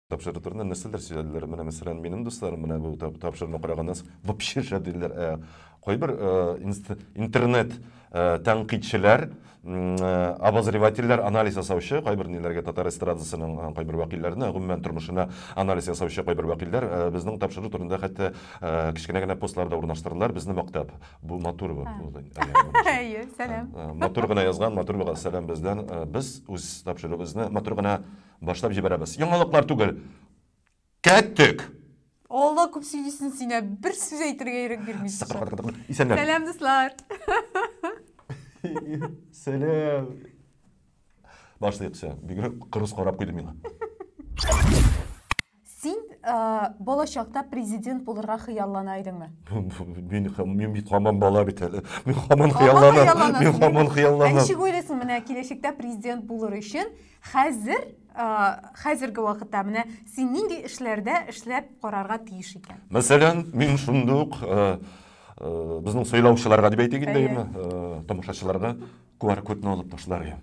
тапшыру турында нәрсәләр сөйләделәр менә мәсәлән минем дусларым менә бу тапшыруны караганнан соң вообще шәделәр ә, кайбер ә, интернет ә, тәнкыйтьчеләр ә, обозревательләр анализ ясаучы кайбер ниләргә татар эстрадасының ә, кайбер вәкилләренә гомумән тормышына анализ ясаучы кайбер вәкилләр ә, безнең тапшыру турында хәтта ә, кечкенә генә постлар да урнаштырдылар безне мактап Бу матур бу. Әйе, сәлам. Матур гына язган, матур булган сәлам бездән. Без үз тапшыруыбызны матур гына башлап җибәрәбез. Яңалыклар түгел. Кәттек! Алла күп сөйлисен сине, бер сүз әйтергә ирек бирмисен. Исәнләр. Сәлам, дуслар. Сәлам. Башлыйк сәлам. Бигрәк кырыс карап куйды миңа. Син ә, балачакта президент булырга хыяллана идеңме? Мин мин бит хаман бала бит әле. Мин хаман хыялланам. Мин хаман хыялланам. Ничек уйлыйсың, менә киләчәктә президент булыр өчен хәзер хәзерге вакытта менә син нинди эшләрдә эшләп карарга тиеш икән? Мәсәлән, мин шундый ук безнең сайлаучыларга дип әйтик инде, тамашачыларга QR-кодны алып ташлар идем.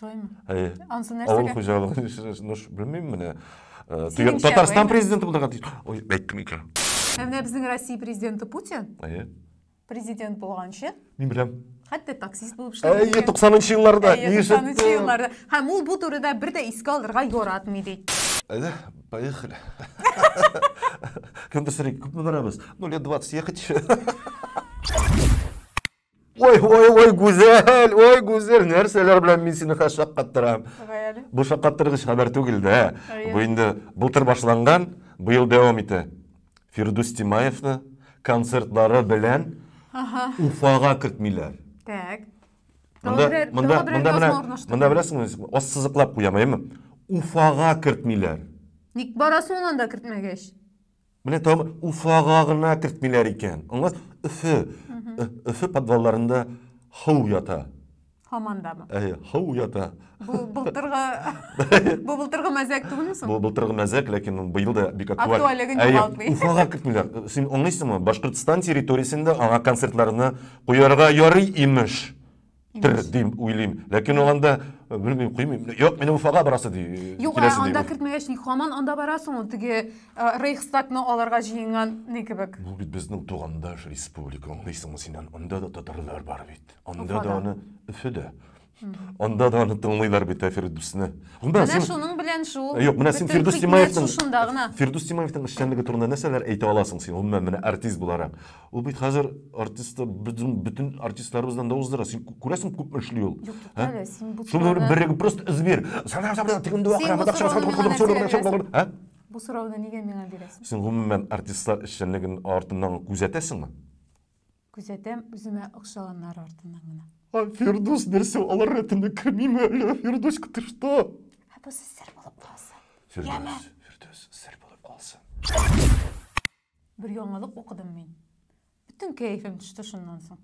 Шулай ма? Әйе. Ансы нәрсәгә? Авыл хуҗалыгы, ну, белмим менә. Э, Татарстан президенты булдырга тиеш. Ой, әйттем икән. Ә менә безнең Россия президенты Путин. Әйе. Президент булганчы. Мин беләм. Хәтта таксист булып эшләгән. Әйе, 90-нчы елларда. Әйе, 90-нчы елларда. Һәм ул бу турыда бер дә искә алырга яратмый ди. Әйе, поехали. Кемдер сорый, күпме барабыз? Ну, лет 20 ехать. Ой, ой, ой, гүзәл, ой, гүзәл, нәрсәләр белән мин сине хәзер шаккаттырам. Гаяли. Бу шаккаттыргыч хәбәр түгел дә. Әйе. Бу инде былтыр башланган, быел дәвам итә. Фирдүс Тимаевны концертлары белән Ага. Уфага кертмиләр. Так. Монда, Тагы берәр- монда, тагы берәр монда, менә, язма урнаштырды. монда беләсеңме, ассызыклап куям, әйеме? Уфага кертмиләр. Ник барасың анда кертмәгәч? Менә там Уфага гына кертмиләр икән. Аңлас, Өфе, Өфе подвалларында ху ята. Һамандамы? Әйе, ху ята. Бу былтыргы бу былтыргы мәзәк түгелме соң? Бу былтыргы мәзәк, ләкин быел да бик актуаль. Актуальлеген югалтмый. Уфага кертмиләр. Син аңлыйсыңмы? Башкортстан территориясендә аңа концертларны куярга ярый имеш. Имеш. Дим, уйлыйм. Ләкин ул анда, э, белмим, куймыйм. Юк, мин Уфага барасы ди. Э, Юк, ә анда кертмәгәч, ник хаман анда барасың ул теге э, Рейхстагны аларга җыенган ни кебек? Бу бит безнең тугандаш республика, аңлыйсыңмы син? Анда да татарлар бар бит. Анда да аны Өфөдә. Анда да аны тыңлыйлар бит Фирдүсне. Менә шуның белән шул. Юк, менә син Фирдүс Тимаевның Фирдүс Тимаевның эшчәнлеге турында нәрсәләр әйтә аласың син? Гомумән, менә артист буларак. Ул бит хәзер артистта безнең бөтен артистларыбыздан да уздыра. Син күрәсең күпме эшли ул. Юк, юк, әле син бу Шуны турыны... береге просто эзбир. Сана сана тегенде акыра, бадак чыгар, сана Бу сорауны нигә миңа бирәсең? Син гомумән артистлар эшчәнлеген артыннан күзәтәсеңме? Күзәтәм үземә охшаганнар артыннан гына. А Фирдус нәрсә алар рәтенә кермиме әле? Фирдус, ты что? Ә бу сер булып калсын. Фирдус, Фирдус, сер булып калсын. Бер яңалык укыдым мин. Бөтен кәефем төште шуннан соң.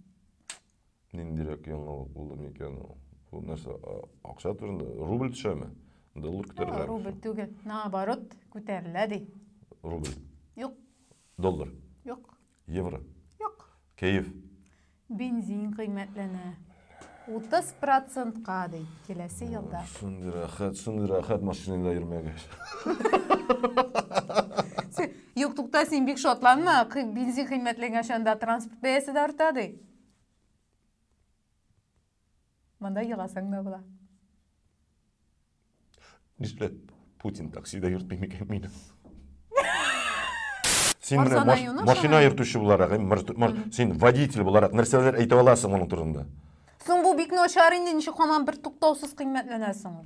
Ниндирәк яңалык булды микән ул? Бу нәрсә, акча турында? Рубль төшәме? Доллар күтәрелә? Рубль түгел. Наоборот, күтәрелә ди. Рубль. Юк. Доллар. Юк. Евро. Юк. Кәеф. Бензин кыйммәтләнә. 30 процентка, ди, киләсе елда. Шундый рәхәт, шундый рәхәт машинада йөрмәгәч. Юк, тукта, син бик шатланма. Бензин кыйммәтләнгән чанда транспорт бәясе дә арта, ди. Монда еласаң да була. Ничек Путин таксида йөртми микән мине? Син менә машина йөртүче буларак, син водитель буларак нәрсәләр әйтә аласың моның турында? Соң бу бик начар инде, ничек һаман бер туктаусыз кыйммәтләнәсең?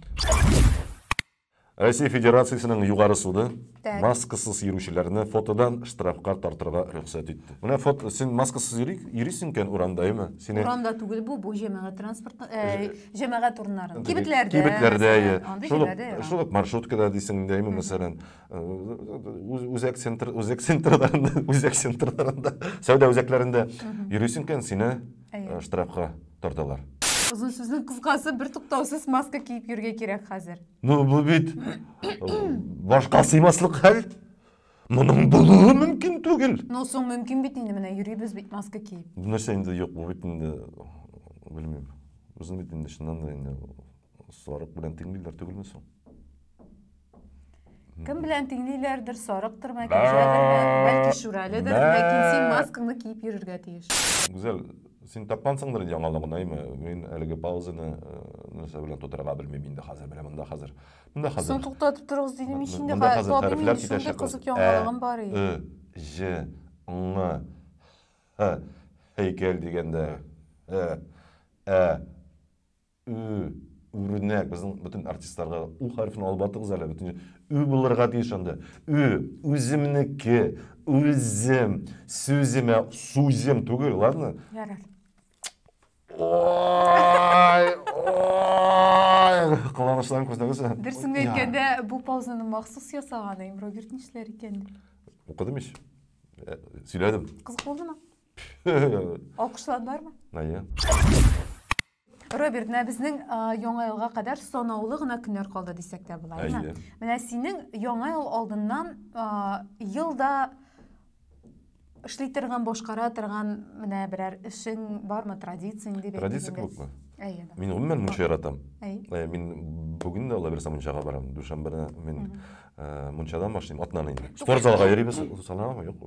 Россия Федерациясенең Югары суды Так. Маскасыз йөрүчеләрне фотодан штрафка тартырга рөхсәт итте. Менә фото, син маскасыз йөри, йөрисең икән урамда, әйме? Сине Урамда түгел бу, бу җәмәгать транспорт, э, җәмәгать урыннары. Кибетләрдә. Кибетләрдә, мәсәлән, әйе. Андый Шул ук- җирләрдә яра. шул ук маршруткада дисең инде, әйме, мәсәлән. Э, үз- Үзәк центр, үзәк центрларында, үзәк центрларында, сәүдә үзәкләрендә йөрисең икән, сине Әйе. э, штрафка тарталар. Озын сүзнең кыскасы, бертуктаусыз маска киеп йөрергә кирәк хәзер. Ну, бу бит башка сыймаслык хәл. Моның булуы мөмкин түгел. Ну, соң мөмкин бит инде менә йөрибез бит маска киеп. Бу нәрсә инде юк, бу бит инде белмим. Безне бит инде чыннан да инде сарык белән тиңлиләр түгелме соң? Кем белән тиңлиләрдер, сарыктыр, мәкәҗәдер, бәлки шүрәледер, ләкин син маскаңны киеп йөрергә тиеш. Гүзәл, Син тапкансыңдыр инде яңалыгын, әйме? Мин әлеге паузаны э, нәрсә белән тутырырга белмим инде хәзер. Менә монда хәзер. Монда хәзер. Соң туктатып торыгыз дидем мин инде. Монда хәзер хәрефләр китәчәк. Кызык яңалыгым бар и. Э, ж, ң, х, һәйкәл дигәндә. Э, ә, Ө, үрнәк. Безнең бөтен артистларга да у хәрефен алып бардыгыз әле, бөтен ө булырга тиеш анда. Ө, үземнеке, үзем, сүземә, сузем түгел, ладно? Ярар. Ой, ой, кыланышларын күрсәгез. Дөресен әйткәндә, бу паузаны махсус ясаган, әйм Роберт нишләр икән? Укыдым ич. Э, сөйләдем. Кызык булдымы? Алкышландармы? Әйе. Роберт, менә безнең яңа елга кадәр санаулы гына көннәр калды дисәк тә була, әйме? Менә синең яңа ел алдыннан елда эшли торган, башкара торган менә берәр эшең бармы, традиция инде бит. Традиция күпме? Әйе. Мин гомумән мунча яратам. Әйе. Мин бүген дә алла бирсә мунчага барам. Дүшәмбене мин мунчадан башлыйм, атнаны инде. Спорт залга йөрибез, санаулы юк.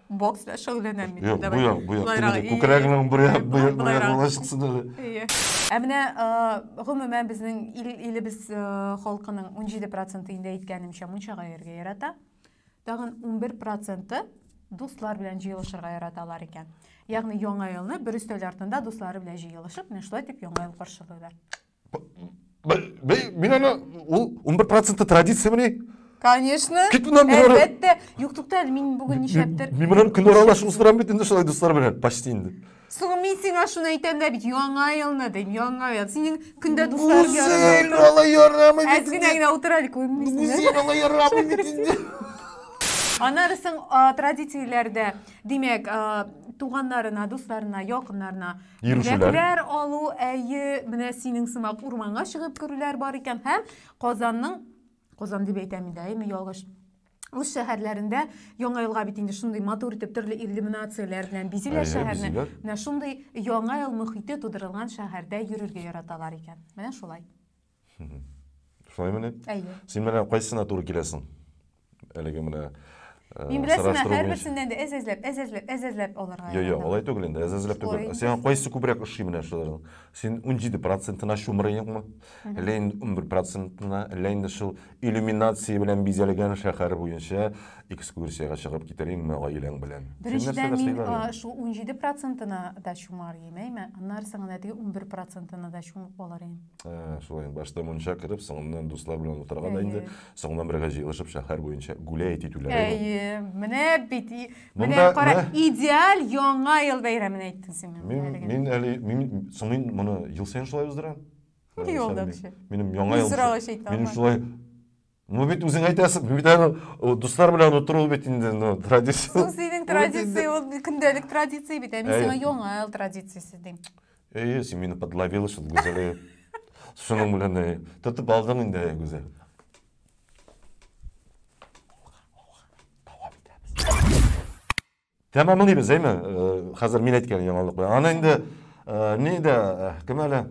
Бокс белән шөгыльләнәм мин. Юк, бу як, бу як. Күкрәгенең бер як, бу як, бу як була чыксын әле. Әйе. Ә менә гомумән безнең ил, илебез халкының 17% инде әйткәнемчә мунчага йөрергә ярата. Тагын 11% дуслар белән җыелышырга яраталар икән. Ягъни яңа елны бер өстәл артында дуслары белән җыелышып, менә шулай дип яңа ел каршылыйлар. Мин аны, ул 11 проценты традиция мені. Конечно. Кит мынан мин аны... Әлбәттә. Юк, тукта, мин бүгін нишләптер. Мин мынан көн аралашып устырам бит инде шулай дуслар белән, почти инде. Соң мин сиңа шуны әйтәм дә бит, яңа елны дим, яңа ел. Синең көндә дуслар ярына. Үзен ала ярамый бит. Әзгенә генә утыралык, күрмисең. Үзен ала ярамый бит инде. Анарысың традицияләрдә, димәк, туганнарына, дусларына, якыннарына Йөрүчеләр. алу, әйе, менә синең сымак урманга чыгып керүләр бар икән һәм Казанның Казан дип әйтәм инде, әйме, ялгыш. Үз шәһәрләрендә яңа елга бит инде шундый матур итеп төрле иллюминацияләр белән бизиләр шәһәрне. Менә шундый яңа ел мөхите тудырылган шәһәрдә йөрергә яраталар икән. Менә шулай. Шулаймы ни? Әйе. Син менә кайсына туры киләсең? Әлеге менә э, Мин беләсеңме, һәрберсеннән дә әз әзләп, әз әзләп, әз әзләп алырга. Йо, йо, алай түгел инде, әз әзләп түгел. Сиңа кайсы күбрәк ошый менә шуларның? Син 17 процентына чумырыйңмы? Әллә инде 11 процентына, әллә инде шул иллюминация белән бизәлгән шәһәр буенча экскурсиягә чыгып китериңме гаиләң белән? Беренчедән мин шул 17 процентына да чумар идем, әйме? Аннары соң гына теге 11 процентына да чумып алыр идем. Ә, шулай башта мунча кереп соңыннан дуслар белән утырган да инде соңыннан бергә җыелышып шәһәр буенча гулять итүләре әйе менә бит менә кара идеаль яңа ел бәйрәмен әйттең син мин мин әле мин соң мин моны ел саен шулай уздырам юлда кеше минем яңа ел минем шулай Ну бит үзең әйтәсең, бит әле дуслар белән утыру бит инде, ну, традиция. Соң синең традиция, ул көндәлек традиция бит, ә мин сиңа яңа ел традициясе дим. Әйе, син мине подловила шул Гүзәле. Шуның белән әйе. Тотып алдың инде, әйе, Гүзәл. Тәмамлыйбыз, әйме? Хәзер мин әйткән яңалык белән. Аны инде ни дә кем әле?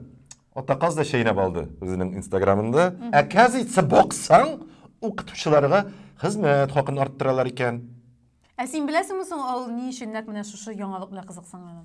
Атаказ да чәйнәп алды үзенең инстаграмында. Ә кәз итсә баксаң, укытучыларга хезмәт хакын арттыралар икән. Ә син беләсеңме соң ул ни өчен нәкъ менә шушы яңалык белән кызыксынганын?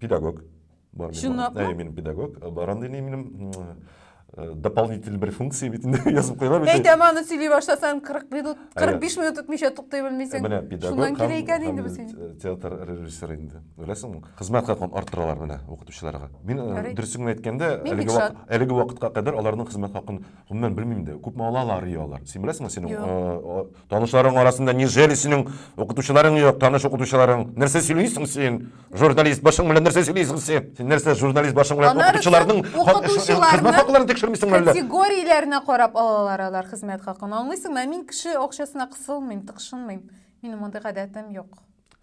педагог бар чынлапмы әйе мин педагог бар андый не минем дополнительный бер функция бит инде язып куйган бит әйтәм аны сөйли башласаң кырык минут кырык биш минут үтмичә туктый белмисең менә педагог шуннан килә икән инде без театр режиссеры инде беләсеңме хезмәт хакын арттыралар менә укытучыларга мин дөресен генә әйткәндә әлеге вакытка кадәр аларның хезмәт хакын гомумән белмим дә күпме алалар и алар син беләсеңме синең Танышларың арасында нижели синең укытучыларың юк, таныш укытучыларың? Нәрсә сөйлисең син? Журналист башың белән нәрсә сөйлисең син? Син нәрсә журналист башың белән укытучыларның хезмәт хакларын тикшермисеңме әллә? Категорияләренә карап алалар алар хезмәт хакын. Аңлыйсыңмы? Мин кеше акчасына кысылмыйм, тыкшынмыйм. Минем мондый гадәтем юк.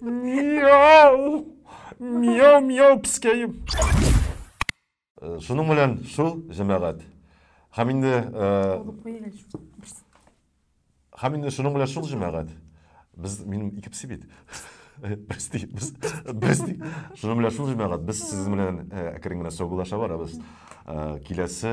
Мияу! Мияу, мияу, пискәем! Э, шуның белән шул, җәмәгать. Һәм инде... Э, һәм инде шуның белән шул, җәмәгать. Без, минем ике пси бит. Без ди, без, без ди. Шуның белән шул, җәмәгать. Без сезнең белән э, әкрен генә саубулаша барабыз. Киләсе